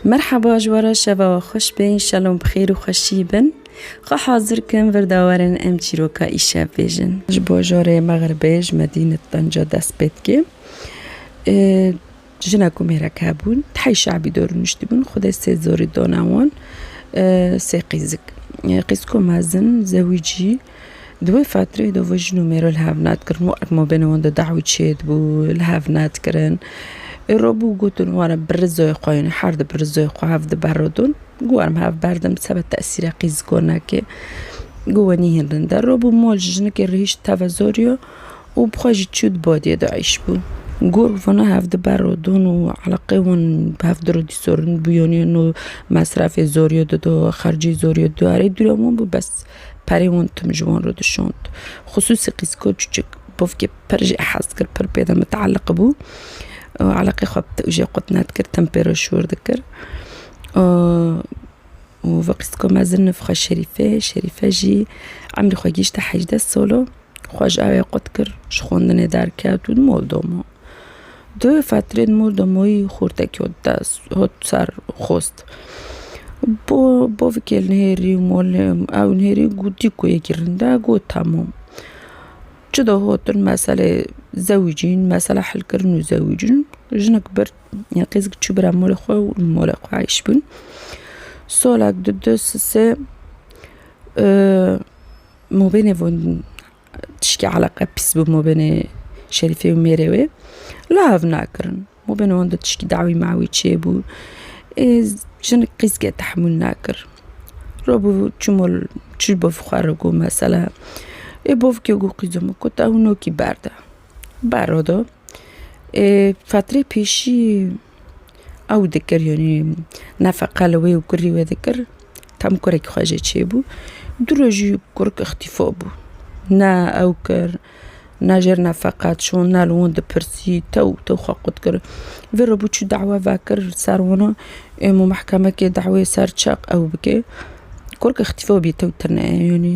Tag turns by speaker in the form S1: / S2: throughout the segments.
S1: Merhaba ji we re şeva we xweş be înşalom bi xêr û xweşî bin. Xwe hazir kim vir da werin em çîroka îşev bêjin. Ji bajorê Megribê ji Medînet Benca dest pê dike. Jina ku mêrek hebûn tehê şabî dor nuştîbûn xwe dê sê zorî dana wan sê qîzik. Qîzko mezin zewîcî Di wê fetreyê de ve jin û mêr li hev nedikirin û eke mabêna wan de dawî çêdibû li hev nedikirin. Îro bû gotin wan e bi rizayê xwe yanî her di bi rizayê xwe hev diberodin. Guherm hev berdim seba tesîra qîzgonekê gu we nîhêndin der. Îro bû mal ji jinikê rihîşt teve zoriya û bi xwe jî çû di badiyê de eşbû. Gur vana hev diberodin û eleqeyê wan bi hev diro dî sorin bû yanî no mesrefê zoriya dida xercê zoriya dida erê dûre wan bû bes. Perê wan tim ji wan re dişand. Xusûsî qîzika çûçik bavkê pir jê hez dikir, pir pê de miteeleq bû. Eleqê xwe bi te jê qut nedikir, tim pê re şûr dikir. Û vê qîzika mezin nivxe Şerîfe, Şerîfe jî emrê xwe gihîşte hejdeh sal o. Xwe ji evê qut kir, ji xwendinê derket û mol domo. Di wê fetrê mol domoyî xurtekî ot dest, ot ser xost. Bo bovikê li hêrî û molê ew li hêrî gotî ku yê girinde got hemû. Çi de gotin meselê zewicîn, mesela hilkirin û zewicîn jinik bir ya qîzik çû bira molê xwe û li molê xwe heş bûn. Solek di du sisê Mabênê wan tişkî eleqe pîs bû mabênê Şerîfê û mêrê wê la hev nakirin. Mabênê wan de tişkî dawî mawî çêbû. Ê jinik qîzge tehmûl nakir. Rabû çû mal çû ji bav xwe re got mesela ê bavkê got qîza min got ew nokî berda. Berda da. Ê fetrê pêşî. Ew dikir yanî nefeqa li wê û kurî wê dikir. Tam kurekî xwe jê çêbû. Du rojî kurik îxtîfa bû. Ne ew kir, ne jê re nefeqa çûn, ne li wan dipirsî, tew û tew xwe qut kir. Vê re bû çû dawa vekir li ser wan ê mû mehkemekê dawayê ser çi ew bike. Kurik îxtîfa bû yê tew tune ye yanî.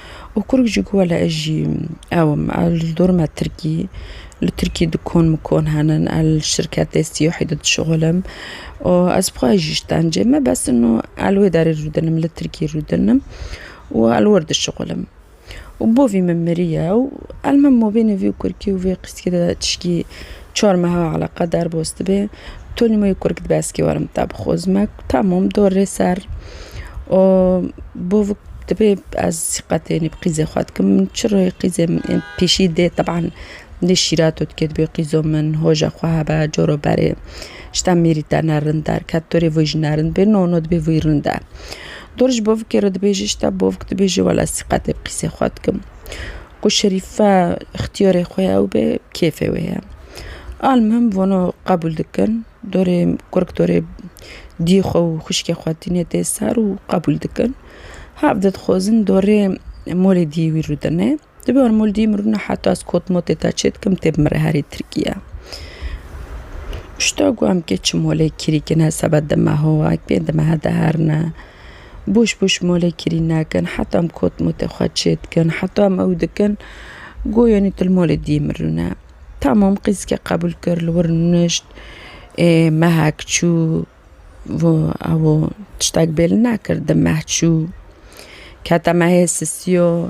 S1: û kurg jî got wele ez jî ew im, ew li dor me tirkî, li tirkî dikon mikon henin, ez li şirketê siyahî de dişixulim û ez bi xwe re jî îşkenceyê me besin û ez li wê derê rûdinim, li tirkî rûdinim û ez li wir dişixulim. Û bo vî min mirî ye û ez li min mobîlê vî kurkî û vî qîskê de tişkî Çar meha eleqa derbas dibe, Tony moyê kurg dibe eskê were min te bixwe zime ku temam dor rê ser û bavik dibe ez siqetê nê bi qîzê xwe dikim min çi rê qîzê min ên pêşî dê teban dê şîret û dikê dibê qîzo min hoja xwe hebe caro berê ji te mêrî te ne rind derket tu rê vûyî ji nerind bê no no dibê vûyî rind e. Dor ji bavikê re dibêje ji te bavik dibêje wele ez siqetê bi qîzê xwe dikim. Ku şerîfe îxtiyarê xwe ye ew bê bi kêfê wê ye. Almuhim vano qebûl dikin dorê kurg dorê diyê xwe û xwişkê xwe tîne tê ser û qebûl dikin. Hev de dixwazin dorê malê diyê wî rûdine. Di ber mol diyê min rûna heta ez kot motê te çê dikim tê bimire herî Tirkiye. Pişta ku em kê çi malê kirî kine sebe di meha we, pê di mehe de herine. Boş boş malê kirî nakin, heta em kotmotê xwe çê dikin, heta em ew dikin, goyanî tu li malê diyê min rûne. Tamam qîzike qebûl kir, li wir nişt, ê mehek çû, ew tiştek bê li nekir, di meh çû, kete mehê sisiyo.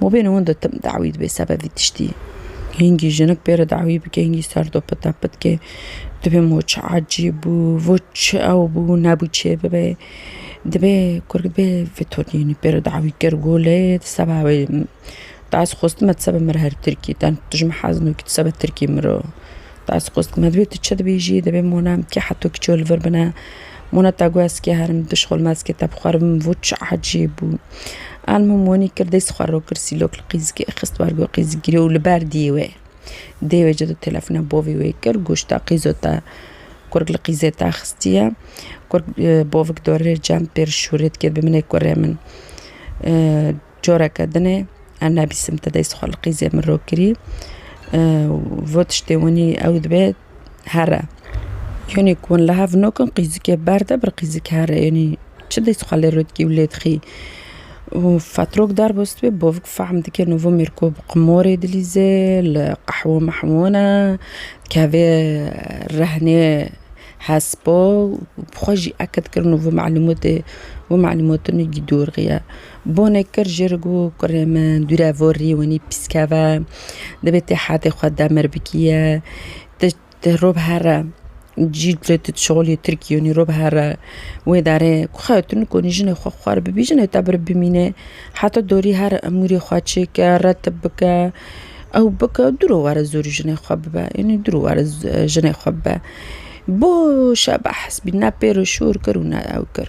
S1: Ma bê hûn di tim dawî dibe seba vî tiştî. Hingî jinik bê re dawî bike, hingî ser do pite pitke dibê mo çi ecêb bû, vo çi ew bû nebû çê bibe. Dibê kurikê dibê vê tolînî bê re dawî kir û lê di seba wê dest xwestime di seba min re her tirkî ten tu ji min hez nake tu seba tirkî min re Ez xwest dibim divê tu çi dibêjî divê mona em kî heto kî çiyo li vir bine mona te got ez kê herim tu dişxulme ez kê te bixwerim vût çi ecêb bû anmo monî kir dest xwe ro kir sîlok li qîzikê xist ber got qîzik girê û li ber dîyê wê dê wê cida telefona bavê wê kir goş te qîzo te kurg li qîzê te xistiye kurg bavik dorê cem pêr şûrê dike bi min ê kurê min Careke din e em nebîsim te dest xwe li qîzê min rû kirî û vot tiştê winî ew dibe here. Yonî ku hûn li hev nakin qîzikê berde bir qîzik here yonî çi dest xwe lê rû dikî û lê dixî. Û fetrok derbas dibe bavik fehm dike nû vê mêrko bi qimarê dilîze li qehwe mehwe ne dikeve rehnê hespa û bi xwe jî eke dikir nû vê malûmatê vê malûmatinû dûr xiye. Bonê kir jê re got, Kurê min, dû re vor rî winî pîs keve. Divê tê hedê xwe demir bikiye. Ti ti rû bihere. Cî tu tu şolî Tirkî yûnî rû bihere. Wê darê ku xewe tu nikonî jinê xwe xwar bibî, jinê te bir bimîne. Heta dorî here emûrê xwe çêke, retib bike. Ew bike dû ro were zûrî jinê xwe bibe. Yûnî dû ro were jinê xwe bibe. Bo şebex hespî ne pêro şûr kir û ne ew kir.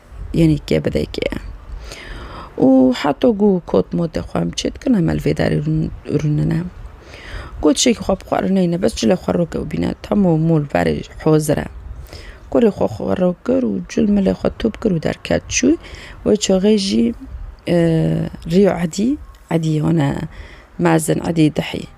S1: Yenî kebidekê ye. Û heta ku kot motê xwe em çê dikin em li vê derê rûnine. Gotişekî xwe bi xwe re neyne bes cile xwe rok ewbîne tamo mûl verê hozir e. Kurê xwe xwe rok kir û cil milê xwe top kir û derket çû. Wê çaxê jî rîyo edî, edî wana mezin edî dihî.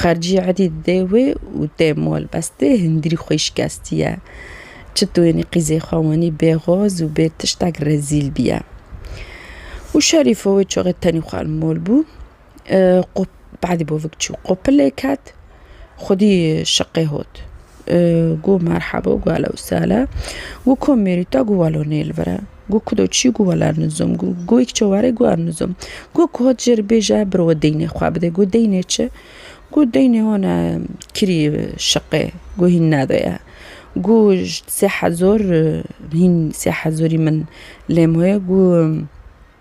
S1: Xercî erdî didê wê û tê mal bes tê hindîrî xwî şikestiye. Çi tûyenî qîzê xwe wenî bê xoz û bê tiştek rezîl bîye. Û Şerîfo wê çaxê tenî xwe li mal bû. Qo badî bavik çû qopilê ket xwedî şiqê hot. Got merheba got ehlewsehla got komêrî te got welo nêlvire. Got ku do çi got welar nizom. Got goyik çi were got ev nizom. Got ku hat jêr bêje biro we deynê xwe bide. Got deynê çi? Got deynê hona kirî şiqê. Got hîn nedoye. Got sê hezar hîn sê hezarî min lêm hoye. Got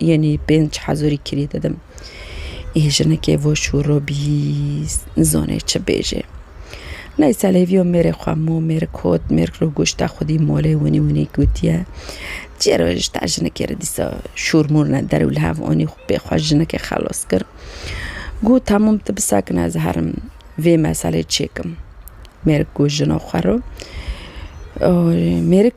S1: Yenî pênc hezûrî kirî didim. Î jinekê voşûro bîyî, nizanê çi bêjê. Ney selêvîyo mêrê xwe mû, mêrik hot, mêrik li goşta xwe dî molê winî winî gotiye. Çiyê re ji ta jinekê re dîsa şûr mûr ne der û li hev anî xwe pê xwe jinekê xelas kir. Got hemûm tu bisakin ez herim vê meselê çêkim. Mêrik got jina xwe re mêrik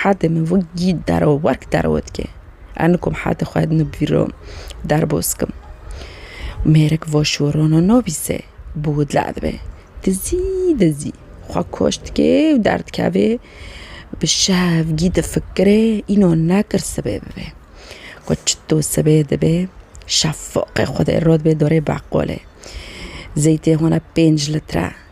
S1: Hadê min wek gî dero werk dero dike. Ez nikom hadê xwe no bîro derbos kim. Mêrik voşûrono no bîse bi widla dibe. Dizî dizî xwe koç dike û derdikeve bi şev gî difikire îno nekir sibê bibe. Xwe çito sibê dibe şefoqê xwedê rodibe dorê beqolê. Zeytê hona pênc litre.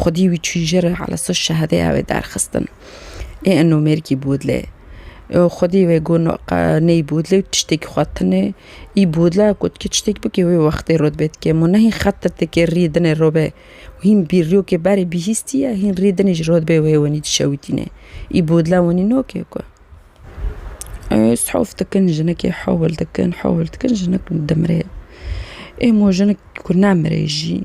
S1: خودی wî çû jir ala so şehedeya wê derxistin. Ê eno mêrgî bûdlê. Xwedî wê got no qe ney bûdlê û tiştekî xwe tinê. Î bûdla got kê tiştekî bikê wê wextê rû dibê dikê. Min ne hîn xetir dikê rî dinê rû bê. Hîn bîrrîyokê berê bîhîstî ye hîn rî dinê ji rû dibê wê wenî dişewitînê. Î bûdla wenî no kê ku sof dikin jinekê hewil dikin hewil dikin jinik dimirê. Ê mo jinik ku nemirê jî.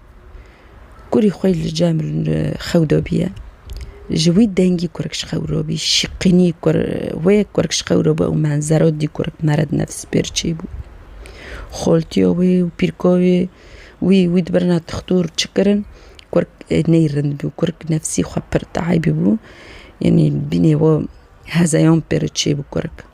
S1: Kurî xwe li cem xew dobîye. Ji wî dengî kurik ji xew robî, şîqînî wê kurik ji xew robî û menzero dî kurik mere di nefs pêr çêbû. Xoltiyo wê û pîrko wê wî wî di birina tixtur çi kirin kurik ney rind bû. Kurik nefsî xwe pir taybî bû. Yanî bînê we hezeyan pêro çêbû kurik.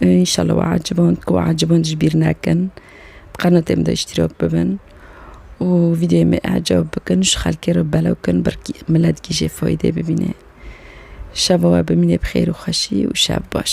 S1: Înşallah we eciband ku we eciband ji bîr nekin. Bi qenatê min de îştîrak bibin û vîdeoyê me ecab bikin û ji xelkê re belav bikin ber ku milet jî jê feyde bibîne. Şeva we bimîne bi xêr û xweşî û şev baş.